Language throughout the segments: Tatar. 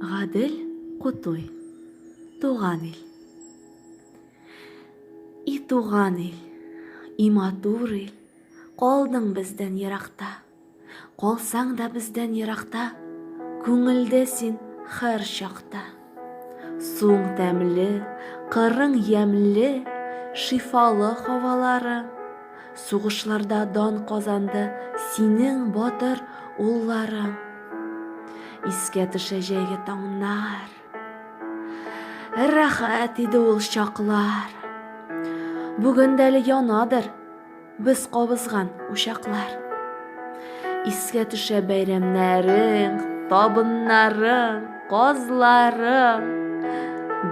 Гадел Кутуй. Туган ил. И туган ил, и матур ил, Калдың бездән еракта. Калсаң да бездән еракта, Күңелдә син хәр чакта. Суың тәмле, кырың ямьле, шифалы һавалары. Сугышларда дан казанды синең батыр улларың. Искә төшә җәйге таңнар. Рәхәт иде ул чаклар. Бүген дә әле янадыр Без кабызган учаклар. Искә төшә бәйрәмнәрең, табыннарың, казларың.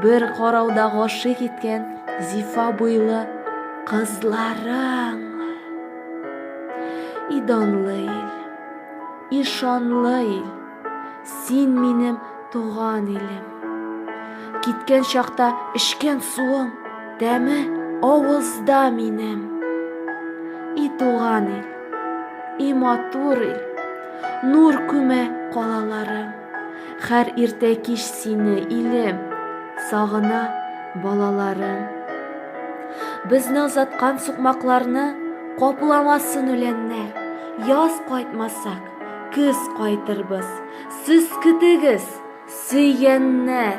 Бер карауда гашыйк иткән зифа буйлы кызларың. И данлы ил, и шанлы ил. Син минем туган илем. Киткән чакта эчкән суым, тәме авызда минем. И туган ил, и матур ил, нур күмә калаларым. Хәр иртә кич сине, илем, сагына балаларым. Безнең заткан сукмакларны капламасын үләннәр, яз кайтмасак, Көз кайтырбыз, сез көтегез, сөйгәннәр!